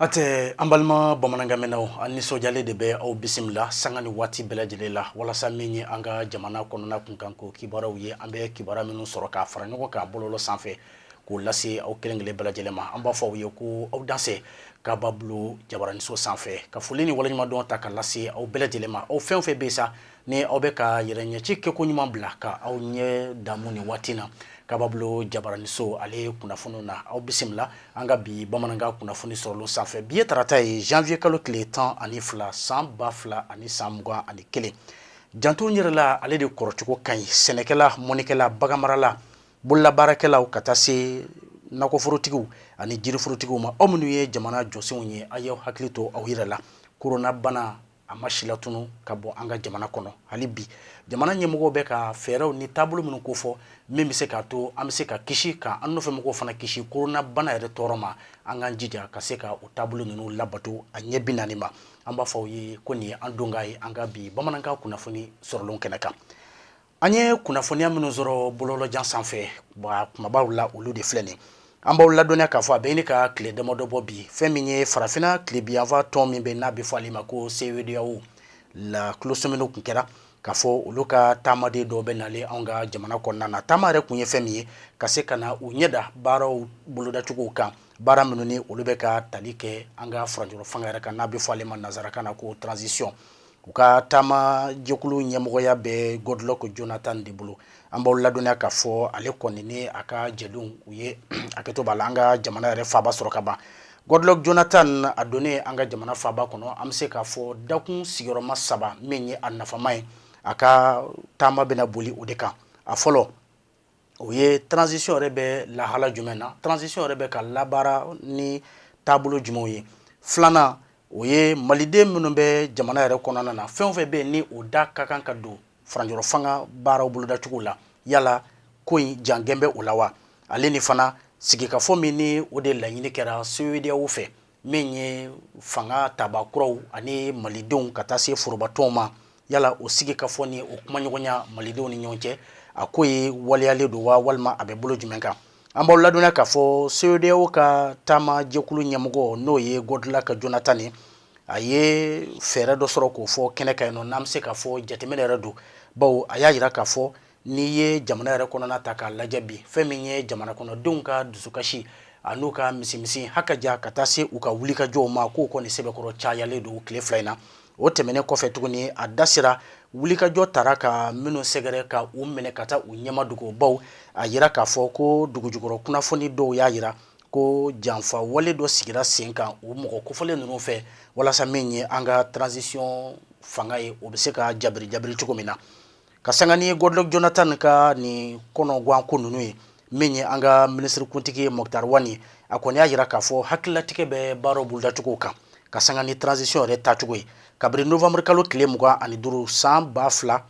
Atɛ an balima bamanankanmɛnnaw an nisɔndiyalen de bɛ aw bisimila sanga ni waati bɛɛ lajɛlen la walasa min ye an ka jamana kɔnɔna kunkanko kibaruyaw ye an bɛ kibaruya minnu sɔrɔ k'a fara ɲɔgɔn kan bɔlɔlɔ sanfɛ k'o lase aw kelen kelen bɛɛ lajɛlen ma an b'a fɔ aw ye ko aw danse Kababulon jabaraninso sanfɛ ka foli ni waleɲumandɔn ta ka lase aw bɛɛ lajɛlen ma aw fɛn o fɛn bɛ sa ni aw bɛ ka yɛrɛ ɲɛci kɛko ɲuman bila ka aw ɲɛ damu nin waati na Kababulon jabaraninso ale kunnafoni na aw bisimila an ka bi bamanankan kunnafoni sɔrɔlen sanfɛ bi ye tarata ye janvier kalo tile tan ani fila san ba fila ani san mugan ani kelen janto yɛrɛ la ale de kɔrɔcogo ka ɲi sɛnɛkɛla mɔnnikɛla baganmarala bololabaarakɛlaw ka taa se nakɔforotigiw ani jiriforotigiw ma aw minnu ye jamana jɔsenw ye aw y'aw hakili to aw yɛrɛ la koronabana a ma silatunun ka bɔ an ka jamana kɔnɔ hali bi jamana ɲɛmɔgɔw bɛ ka fɛɛrɛw ni taabolo minnu kofɔ min bɛ se k'a to an bɛ se ka kisi ka an nɔfɛmɔgɔw fana kisi koronabana yɛrɛ tɔɔrɔ ma an k'an jija ka se ka o taabolo ninnu labato a ɲɛ bi naani ma an b'a fɔ aw ye ko nin ye an don kan ye an ka bi bamanankan kunnafoni sɔrɔlen kɛnɛ kan an ye kunnafoniya minnu sɔrɔ bɔlɔlɔjan sanfɛ kumabaw la olu de filɛ nin an b'aw ladɔnniya k'a fɔ a bɛ ɲini ka tile damadɔ bɔ bi fɛn min ye farafinna tilebinyanfan tɔn min bɛ n'a bɛ fɔ ale ma ko CEDEAO la tulosɔminiw tun kɛra k'a fɔ olu ka taamaden dɔw bɛ nalen anw ka jamana kɔnɔna na taama yɛrɛ kun ye fɛn min ye ka se ka na u ɲɛda baaraw bolodacogow kan baara minnu ni olu bɛ ka tali kɛ an ka furancɛrɔ fanga yɛrɛ kan n'a bɛ fɔ ale ma nansarakan na ko transition u ka taama jɛkulu ɲɛmɔgɔya bɛ Goodluck Jonathan de bolo an b'aw ladɔnniya k'a fɔ ale kɔni ni a ka jɛdenw u ye hakɛto b'a la an ka jamana yɛrɛ faaba sɔrɔ ka ban Goodluck Jonathan a donnen an ka jamana faaba kɔnɔ an bɛ se k'a fɔ dakun sigiyɔrɔma saba min ye a nafama ye a ka taama bɛna boli o de kan a fɔlɔ o ye transition yɛrɛ bɛ lahala jumɛn na transition yɛrɛ bɛ ka labaara ni taabolo jumɛnw ye filanan o ye maliden minnu bɛ jamana yɛrɛ kɔnɔna na fɛn o fɛn bɛ yen ni o da ka kan ka don furancɛrɔ fanga baaraw bolodacogo la yala ko in jangɛn bɛ o la wa ale ni fana sigikafɔ min ni o de laɲini kɛra CEDEAO fɛ min ye fanga tabaa kuraw ani malidenw ka taa se forobatɔnw ma yala o sigikafɔ ni o kumaɲɔgɔnya malidenw ni ɲɔgɔn cɛ a ko ye waleyalen don wa walima a bɛ bolo jumɛn kan an b'aw ladɔnniya k'a fɔ CEDEAO ka taama jɛkulu ɲɛmɔgɔ n'o ye Goodluck Jonathan ye a ye fɛɛrɛ dɔ sɔrɔ k'o fɔ kɛnɛ kan yen nɔ n'an bɛ se k'a fɔ jateminɛ yɛrɛ don bawo a y'a jira k'a fɔ n'i ye jamana yɛrɛ kɔnɔna ta k'a lajɛ bi fɛn min ye jamana kɔnɔdenw ka dusukasi an'u ka misimisi hakaja ka taa se u ka wulikajɔw ma k'o kɔni sɛbɛkɔrɔ cayalen don tile fila in na o tɛmɛnen kɔfɛ tuguni a da sera wulikajɔ taara ka minnu sɛgɛrɛ ka u minɛ ka taa u ɲɛmadogo bawo a yira k'a fɔ ko dugujukɔrɔ kunnafoni dɔw y'a yira ko janfa wale dɔ sigira sen kan o mɔgɔ kofɔlen ninnu fɛ walasa min ye an ka transition fanga ye o bɛ se ka jabiri jabiri cogo min na ka sanga ni Goodluck Jonathan ka nin kɔnɔgwan ko ninnu ye min ye an ka minisirikuntigi ye Moctar Ouane ye a kɔni y'a yira k'a fɔ hakililatigɛ bɛ baaraw bolodacogo kan ka sanga ni transition yɛrɛ tacogo ye kabiri novembre kalo tile mugan ani duuru san ba fila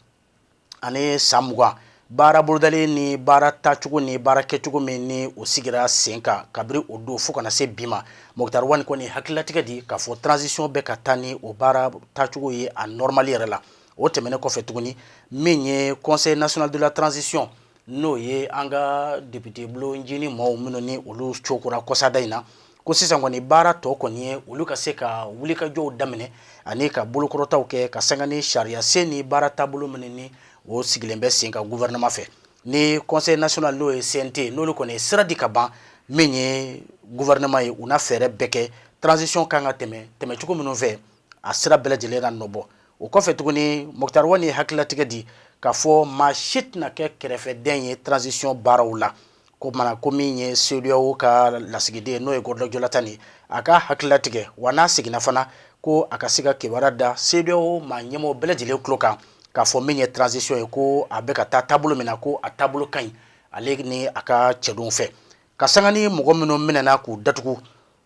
ani san mugan baara bolodalen ni baara tacogo ni baara kɛcogo min ni o sigira sen kan kabiri o don fo ka na se bi ma Moctar Ouane kɔni hakililatigɛ di k'a fɔ transition bɛ ka taa ni o baara tacogo ye a normal yɛrɛ la o tɛmɛnen kɔfɛ tuguni min ye conseil national de la transition n'o ye an ka député bulonjini maaw minnu ni olu cokora kɔsada in na ko sisan kɔni baara tɔ kɔni ye olu ka se ka wulikajɔw daminɛ ani ka bolokɔrɔtaw kɛ ka sanga ni sariyasen ni baara taabolo minnu ni o sigilen bɛ sen kan gouvernement fɛ ni conseil national n'o ye CNT n'olu kɔni ye sira di ka ban min ye gouvernement ye u na fɛɛrɛ bɛɛ kɛ transition kan ka tɛmɛ tɛmɛcogo minnu fɛ a sira bɛɛ lajɛlen na nɔ bɔ o kɔfɛ tuguni Moctar Ouane ye hakililatigɛ di k'a fɔ maa si tɛna kɛ kɛrɛfɛden ye transition baaraw la ko min ye CEDEAO ka lasigiden n'o ye Goodluck Jonathan ye a ka hakililatigɛ wa n'a seginna fana ko a ka se ka kibaruya da CEDEAO maa ɲɛmɔgɔ bɛɛ lajɛlen tulo kan k'a fɔ min ye transition ye ko a bɛ ka taa taabolo min na ko a taabolo ka ɲi ale ni a ka cɛdenw fɛ ka sanga ni mɔgɔ minnu minɛɛna k'u datugu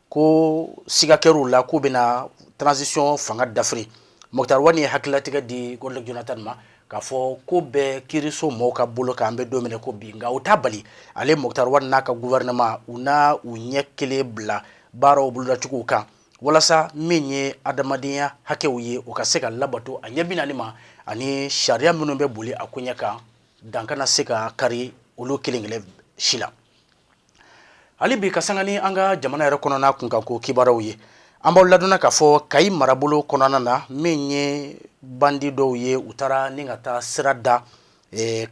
ko siga kɛr'u la k'u bɛna transition fanga dafiri Moctar Ouane ye hakililatigɛ di Goodluck Jonathan ma k'a fɔ k'o bɛ kiiriso mɔɔw ka bolo kan an bɛ don min na i ko bi nka o t'a bali ale Moctar Ouane n'a ka gouvernement u na u ɲɛ kelen bila baaraw bolodacogow kan walasa min ye adamadenya hakɛw ye o ka se ka labato a ɲɛ bi naani ma ani sariya minnu bɛ boli a koɲɛ kan dan kana se ka kari olu kelen kelen si la hali bi ka sanga ni an ka jamana yɛrɛ kɔnɔna kunkanko kibaruyaw ye an b'aw ladɔnniya k'a fɔ kayi marabolo kɔnɔna na min ye bandi dɔw ye u taara ni ka taa sira da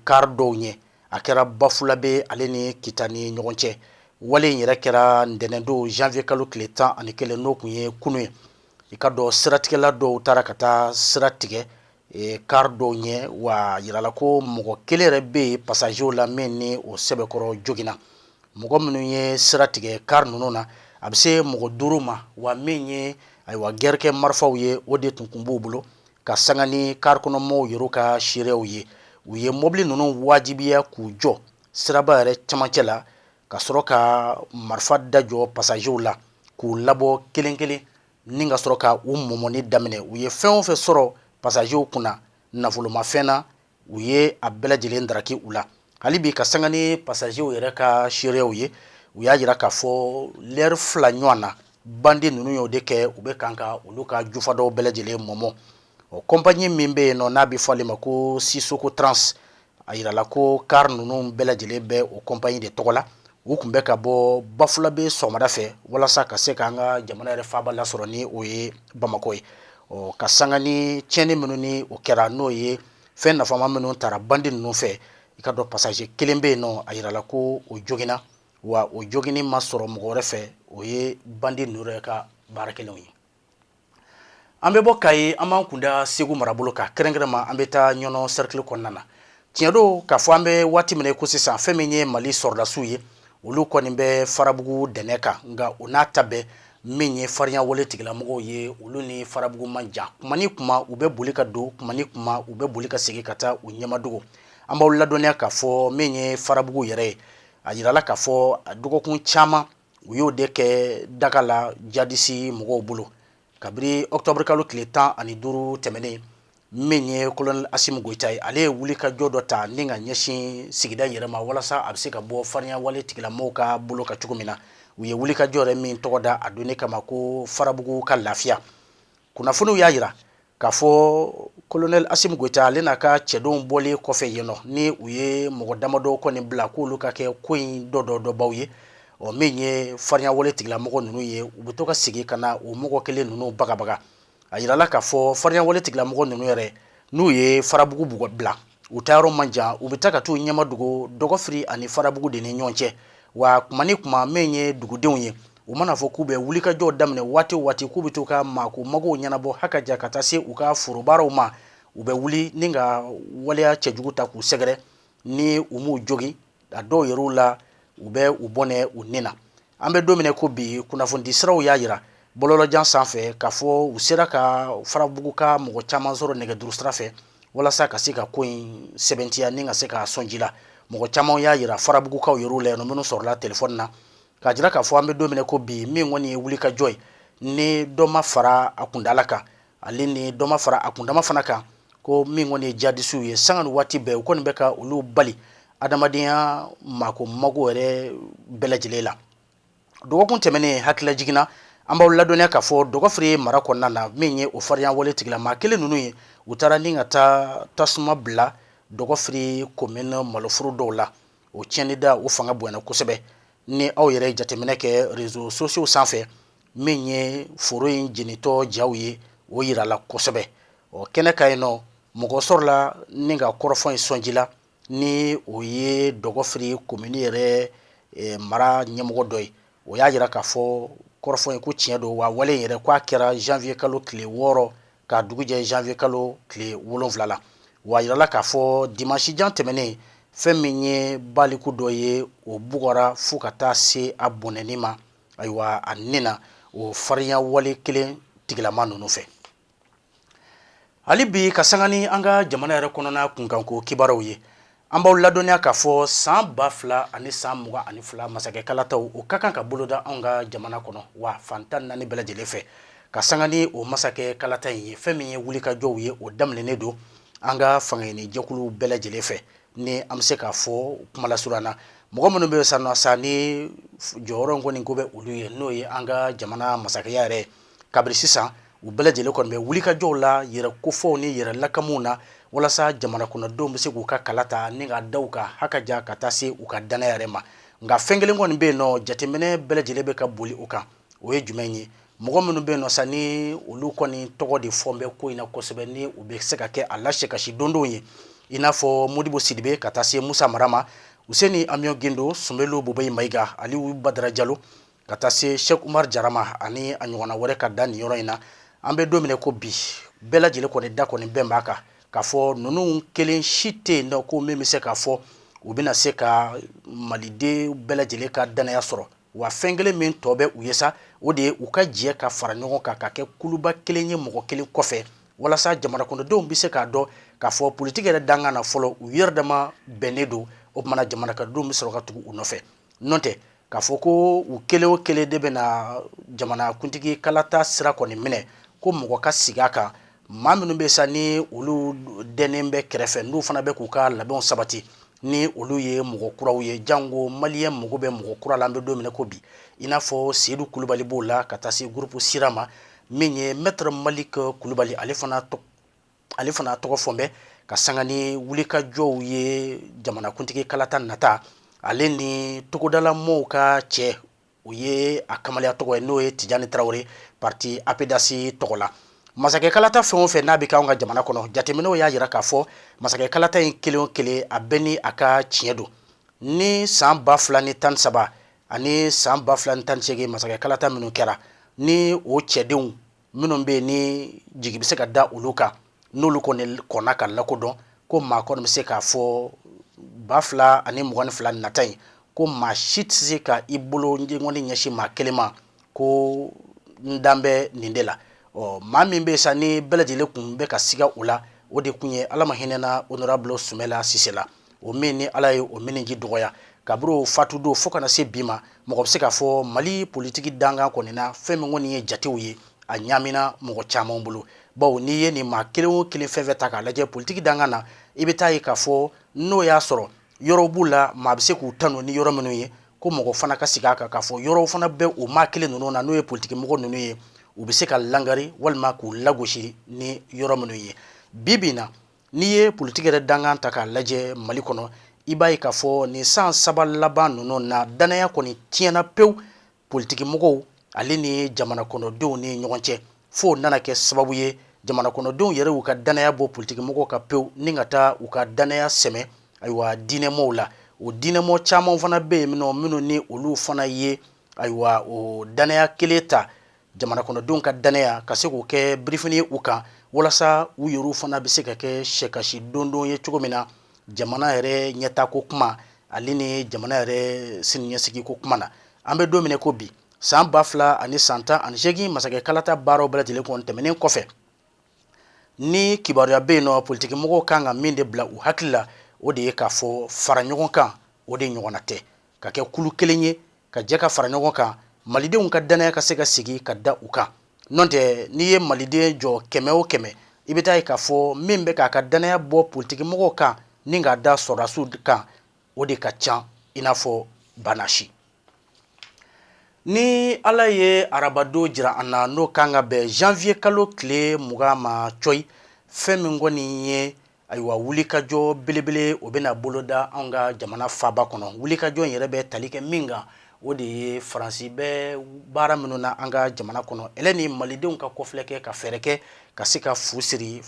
car dɔw ɲɛ a kɛra bafulabe ale ni kita ni ɲɔgɔn cɛ wale in yɛrɛ kɛra ntɛnɛndon janvier kalo tile tan ani kelen n'o kun ye kunu ye i k'a dɔn siratigɛla dɔw taara ka taa sira tigɛ kari dɔw ɲɛ wa jirala ko mɔgɔ kelen yɛrɛ bɛ yen pasazew la min ni o sɛbɛkɔrɔ joginna mɔgɔ minnu ye sira tigɛ kari ninnu na a bɛ se mɔgɔ duuru ma wa min ye ayiwa gɛrɛkɛ marifaw ye o de tun kun b'u bolo ka sanga ni kari kɔnɔmaaw yɛrɛ ka seereyaw ye u ye mɔbili ninnu wajibiya k'u jɔ siraba yɛrɛ camancɛ la ka sɔrɔ ka marifa da jɔ pasazew la k'u labɔ kelen kelen ni ka sɔrɔ ka u mɔmɔni daminɛ u ye fɛn o fɛn sɔrɔ pasazew kunna nafolomafɛn na u ye a bɛɛ lajɛlen daraki u la hali bi ka sanga ni pasazew yɛrɛ ka seereyaw ye u y'a jira k'a fɔ lɛri fila ɲɔgɔn na bandi ninnu y'o de kɛ u bɛ kan ka olu ka jufa dɔw bɛɛ lajɛlen mɔmɔ ɔ kɔnpaɲi min bɛ yen nɔ n'a bɛ fɔ ale ma ko sisoko trans a jirala ko kari ninnu bɛɛ lajɛlen bɛ o kɔnpaɲi de tɔgɔ la u tun bɛ ka bɔ bafulabɛ sɔgɔmada fɛ walasa ka se ka an ka jamana yɛrɛ faaba lasɔrɔ ni o ye bamakɔ ye ɔ ka sanga ni tiɲɛni minnu ni o kɛra n'o ye fɛn nafama minnu taara bandi ninnu fɛ i k'a dɔn pasaze kelen bɛ yen nɔ a jirala ko o joginna wa o joginni ma sɔrɔ mɔgɔ wɛrɛ fɛ o ye bandi ninnu yɛrɛ ka baara kɛlen ye an bɛ bɔ kayi an b'an kunda segu marabolo kan kɛrɛnkɛrɛnma an bɛ taa ɲɔnɔ sɛrikili kɔnɔna na tiɲɛ don k'a fɔ an bɛ waati min ko sisan fɛn min ye mali sɔrɔdasiw ye olu kɔni bɛ farabugu dɛnɛ kan nka o n'a ta bɛɛ min ye farinya wale tigilamɔgɔw ye olu ni farabugu man jan kuma ni kuma u bɛ boli ka don kuma ni kuma u bɛ boli ka segin ka taa u ɲɛmadogo an b'aw ladɔnniya k'a fɔ min ye farabugu yɛrɛ ye a jirala k'a fɔ dɔgɔkun caman u y'o de kɛ daga la jadisi mɔgɔw bolo kabiri ɔkutɔburukalo tile tan ani duuru tɛmɛnen min ye kolonɛli asimu goyita ye ale ye wulikajɔ dɔ ta ni ka ɲɛsin sigida yɛrɛ ma walasa a bɛ se ka bɔ farinya wale tigilamɔgɔw ka bolo ka cogo min na u ye wulikajɔ yɛrɛ min tɔgɔ da a donni kama ko farabugu ka lafiya kunnafoniw y'a jira k'a fɔ kolonɛli asimu goyita ale n'a ka cɛdenw bɔlen kɔfɛ yen nɔ ni u ye mɔgɔ damadɔ kɔni bila k'olu ka kɛ ko in dɔ dɔ dɔbaw ye ɔ min ye farinya wale tigilamɔgɔ ninnu ye u bɛ to ka segin ka na o mɔgɔ kelen ninnu bagabaga a yirala k'a fɔ farinya wale tigilamɔgɔ ninnu yɛrɛ n'u ye farabugu bugɔ bila u taa yɔrɔ man jan u bɛ taa ka t'u ɲɛmadogo dɔgɔfiri ani farabugu de ni ɲɔgɔn cɛ wa kuma ni kuma min ye dugudenw ye u mana fɔ k'u bɛ wulikajɔ daminɛ waati o waati k'u bɛ to ka maako magow ɲɛnabɔ haka ja ka taa se u ka forobaaraw ma u bɛ wuli ni ka waleya cɛjugu ta k'u sɛgɛrɛ ni u m'u jogin a dɔw yɛrɛw la u bɛ u bɔnɛ u ni na an bɛ don min ko bi kunnafonidi siraw y'a jira bɔlɔlɔjan sanfɛ k'a fɔ u sera ka farabuguka mɔgɔ caman sɔrɔ nɛgɛjuru sira fɛ walasa ka se ka ko in sɛmɛntiya ni ka se ka sɔn ji la mɔgɔ caman y'a jira farabugukaw yɛrɛw la yan minnu sɔrɔla telefɔni na k'a jira k'a fɔ an bɛ don min na ko bi min kɔni ye wulikajɔ ye ni dɔ ma fara a kuntaala kan ale ni dɔ ma fara a kundama fana kan ko min kɔni ye jadisiw ye sanga ni waati bɛɛ u kɔni bɛ ka olu bali adamadenya mako mago yɛrɛ bɛɛ lajɛlen la dɔgɔkun tɛmɛnen hakililajigin na an b'aw ladɔnniya k'a fɔ dɔgɔfiri mara kɔnɔna na min ye o farinya wale tigilama kelen ninnu ye u taara ni ka taa tasuma bila dɔgɔfiri komini maloforo dɔw la o tiɲɛni da o fanga bonyana kosɛbɛ ni aw yɛrɛ jateminɛ kɛ réseaux sociaux sanfɛ min ye foro in jenitɔ jaw ye o yirala kosɛbɛ ɔ kɛnɛ kan yen nɔ mɔgɔ sɔrɔla ni ka kɔrɔfɔ in sɔnji la ni o ye dɔgɔfiri komini yɛrɛ eh, mara ɲɛmɔgɔ dɔ ye o y'a jira k'a fɔ kɔrɔfɔ in ko tiɲɛ don wa wale in yɛrɛ k'a kɛra janvier kalo tile wɔɔrɔ ka dugujɛ janvier kalo tile wolonwula la w'a yirala k'a fɔ dimansi jan tɛmɛnen fɛn min ye baliku dɔ ye o bugɔra fo ka taa se a bɔnɛni ma ayiwa a ni na o farinya wale kelen tigilama ninnu fɛ hali bi ka sanga ni an ka jamana yɛrɛ kɔnɔna kunkanko kibaruw ye An b'aw ladɔnniya k'a fɔ san ba fila ani san mugan ani fila masakɛ kalata o ka kan ka boloda anw ka jamana kɔnɔ wa fan tan naani bɛɛ lajɛlen fɛ ka sanga ni o masakɛ kalata in ye fɛn min ye wulikajɔw ye o daminɛnen don an ka fangaɲini jɛkulu bɛɛ lajɛlen fɛ ni an bɛ se k'a fɔ kumalasurunya na mɔgɔ minnu bɛ san sa ni jɔyɔrɔ in kɔni ko bɛ olu ye n'o ye an ka jamana masakɛya yɛrɛ kabiri sisan u bɛɛ lajɛlen kɔni bɛ wulikajɔw la yɛrɛ kofɔw ni yɛrɛ lakamuw na walasa jamana kɔnɔdenw bɛ se k'u ka kala ta ni ka da u ka hakaja ka taa se u ka dannaya yɛrɛ ma nka fɛn kelen kɔni bɛ yen nɔ jateminɛ bɛɛ lajɛlen bɛ ka boli o kan o ye jumɛn ye mɔgɔ minnu bɛ yen nɔ sa ni olu kɔni tɔgɔ de fɔ bɛ ko in na kosɛbɛ ni u bɛ se ka kɛ a lase kasi dondonw ye i n'a fɔ modibo sidibe ka taa se musa mara ma useni amiyɔn gindo sumeyilu bubɛyi mayiga aliyu badara jalo ka taa se Sɛk Umaru Jara ma ani a ɲɔgɔnna wɛrɛ ka da nin yɔrɔ in na, an bɛ don min na ko bi, bɛɛ lajɛlen kɔni da kɔni bɛn b'a kan k'a fɔ ninnu kelen si tɛ yen nɔ ko min bɛ se k'a fɔ u bɛna se ka maliden bɛɛ lajɛlen ka dannaya sɔrɔ wa fɛn kelen min tɔ bɛ u ye sa o de ye u ka jɛ ka fara ɲɔgɔn kan ka kɛ kuluba kelen ye mɔgɔ kelen kɔfɛ walasa jamanakɔnɔdenw bɛ se k'a dɔn k'a fɔ politiki yɛrɛ dankan na fɔlɔ u yɛrɛ dama bɛnnen don o tuma na jamanakɔnɔdenw bɛ sɔrɔ ka tugu u nɔfɛ n'o tɛ k'a fɔ ko u kelen o kelen de bɛna jamanakuntigi kalata sira kɔni minɛ ko mɔgɔ ka sigi a kan maa minnu bɛ sa ni olu dɛnnen bɛ kɛrɛfɛ n'u fana bɛ k'u ka labɛnw sabati ni olu ye mɔgɔ kuraw ye jango maliyɛn mago bɛ mɔgɔ kura la an bɛ don min na ko bi i n'a fɔ seyidu kulubali b'o la ka taa se gurupu sira ma min ye mɛtɛrɛ maliki kulubali ale fana tɔ ale fana tɔgɔ fɔ bɛ ka sanga ni wulikajɔw ye jamanakuntigi kalata nata ale ni togodala mɔɔw ka cɛ o ye a kamalenya tɔgɔ ye n'o ye tijani tarawele parti apedasi tɔgɔ la masakɛ kalata fɛn o fɛn n'a bɛ k'anw ka jamana kɔnɔ jateminɛw y'a jira k'a fɔ masakɛ kalata in kelen o kelen a bɛɛ ni a ka tiɲɛ don ni san ba fila ni tan saba ani san ba fila ni tan seegin masakɛ kalata minnu kɛra ni o cɛdenw minnu bɛ yen ni jigi bɛ se ka da olu kan n'olu kɔni kɔnna ka lakodɔn ko maa kɔni bɛ se k'a fɔ ba fila ani mugan ni fila nata in ko maa si tɛ se ka i bolo ɲɛkɔni ɲɛsin maa kelen ma ko n dan bɛ nin de la ɔ maa min bɛ yen sa ni bɛɛ lajɛlen kun bɛ ka siga o la o de kun ye ala ma hinɛna onorabulu sumɛla sise la o min ni ala ye o miniji dɔgɔya kabiri o fatu don fo kana se bi ma mɔgɔ bɛ se k'a fɔ mali politigi dankan kɔni na fɛn min kɔni ye jatew ye a ɲamina mɔgɔ caman bolo bawo n'i ye nin maa kelen o kelen fɛn fɛn ta k'a lajɛ politigi dankan na i bɛ taa ye k'a fɔ n'o y'a sɔrɔ yɔrɔw b'u la maa bɛ se k'u tanu ni yɔrɔ minnu ye ko mɔgɔ fana ka sigi a kan k'a fɔ yɔrɔw fana bɛ o maa kelen ninnu na n'o ye politikimɔgɔ ninnu ye u bɛ se ka langari walima k'u lagosi ni yɔrɔ minnu ye bi bi in na N'i ye politigi yɛrɛ dankan ta k'a lajɛ mali kɔnɔ i b'a ye k'a fɔ nin san saba laban ninnu na dannaya kɔni tiɲɛna pewu politigimɔgɔw ale ni jamana kɔnɔdenw ni ɲɔgɔn cɛ fo nana kɛ sababu ye jamana kɔnɔdenw yɛrɛ y'u ka dannaya bɔ politigimɔgɔw kan pewu ni ka taa u ka dannaya sɛmɛ ayiwa diinɛmɔgɔw la o diinɛmɔgɔ caman fana bɛ yen minnu ni olu fana ye ayiwa o dannaya kelen ta jamana kɔnɔdenw ka dannaya ka se k'o kɛ birifini ye u kan walasa u yɛrɛw fana bɛ se ka kɛ sɛkasi dondon ye cogo min na jamana yɛrɛ ɲɛtaa ko kuma ale ni jamana yɛrɛ siniɲɛsigi ko kuma na an bɛ don min na ko bi san ba fila ani san tan ani seegin masakɛ kalata baaraw bɛɛ lajɛlen kɔni tɛmɛnen kɔfɛ ni kibaruya bɛ yen nɔ politigimɔgɔw kan ka min de bila u hakili la o de ye k'a fɔ fara ɲɔgɔn kan o de ɲɔgɔnna tɛ ka kɛ kulu kelen ye ka jɛ ka fara ɲɔgɔn kan malidenw ka dannaya ka se ka sigi ka da u kan n'o tɛ n'i ye maliden jɔ kɛmɛ o kɛmɛ i bɛ taa ye k'a fɔ min bɛ k'a ka dannaya bɔ politigimɔgɔw kan ni k'a da sɔrɔdasiw kan o de ka ca i n'a fɔ banasi ni ala ye arabadon jira an na n'o kan ka bɛn zanwuye kalo tile mugan ma cɔyi fɛn min kɔni ye ayiwa wulikajɔ belebele o bɛna boloda anw ka jamana faaba kɔnɔ wulikajɔ yɛrɛ bɛ tali kɛ min kan o de ye faransi bɛ baara minnu na an ka jamana kɔnɔ ale ni malidenw ka kɔfilɛ kɛ ka fɛɛrɛ kɛ ka se ka fu siri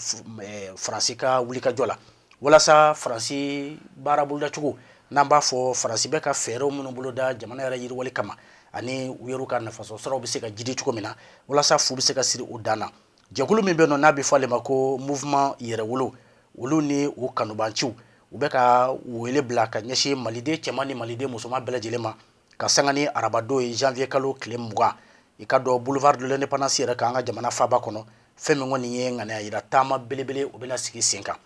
faransi ka wulikajɔ la walasa faransi baara bolodacogo n'an b'a fɔ faransi bɛ ka fɛɛrɛw minnu boloda jamana yɛrɛ yiriwali kama ani u yɛrɛw ka nafasɔrɔsiraw bɛ se ka jidi cogo min na walasa fu bɛ se ka siri o dan na jɛkulu min bɛ nɔ n'a bɛ fɔ ale ma ko mouvement yɛrɛwolo olu ni u kanubanciw u bɛ ka wele bila ka ɲɛsin maliden cɛman ni maliden musoman bɛɛ lajɛlen ma ka sanga ni arabadon ye janvier kalo tile mugan i k'a dɔn boulevard de l'indépendance yɛrɛ kan an ka jamana faaba kɔnɔ fɛn min kɔni ye ŋaniya yira taama belebele o bɛna sigi sen kan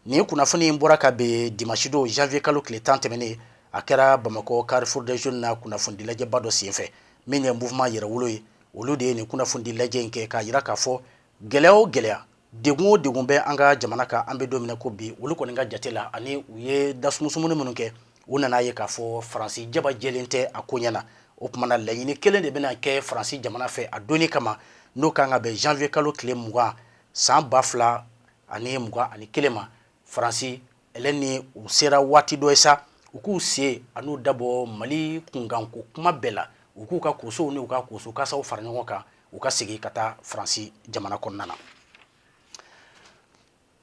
nin kunnafoni in bɔra ka bɛn dimanche don janvier kalo tile tan tɛmɛnen a kɛra bamakɔ carrefour des jeunes na kunnafonidilajɛba dɔ senfɛ min ye mouvement yɛrɛwolo ye olu de ye nin kunnafoni di lajɛ in kɛ k'a yira k'a fɔ gɛlɛya o gɛlɛya degun o degun bɛ an ka jamana kan an bɛ don min na i ko bi olu kɔni ka jate la ani u ye dasumusumuni minnu kɛ u nana a ye k'a fɔ faransi jaba jɛlen tɛ a koɲɛ na o kuma na laɲini kelen de bɛna kɛ faransi jamana fɛ a don in kama n'o ka kan ka bɛn janvier kalo tile mugan san ba fila ani mugan ani kelen ma faransi ale ni u sera waati dɔ ye sa u k'u sen ani u da bɔ mali kunkanko kuma bɛɛ la u k'u ka kosow ni u ka koso kasaw fara ɲɔgɔn kan u ka segin ka taa faransi jamana kɔnɔna na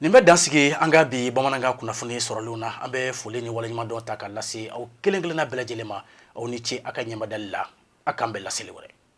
nin bɛ dan sigi an ka bi bamanankan kunnafoni sɔrɔlenw na an bɛ foli ni waleɲumandɔn ta ka lase aw kelen kelenna bɛɛ lajɛlen ma aw ni ce aw ka ɲɛmadali la a k'an bɛn laseli wɛrɛ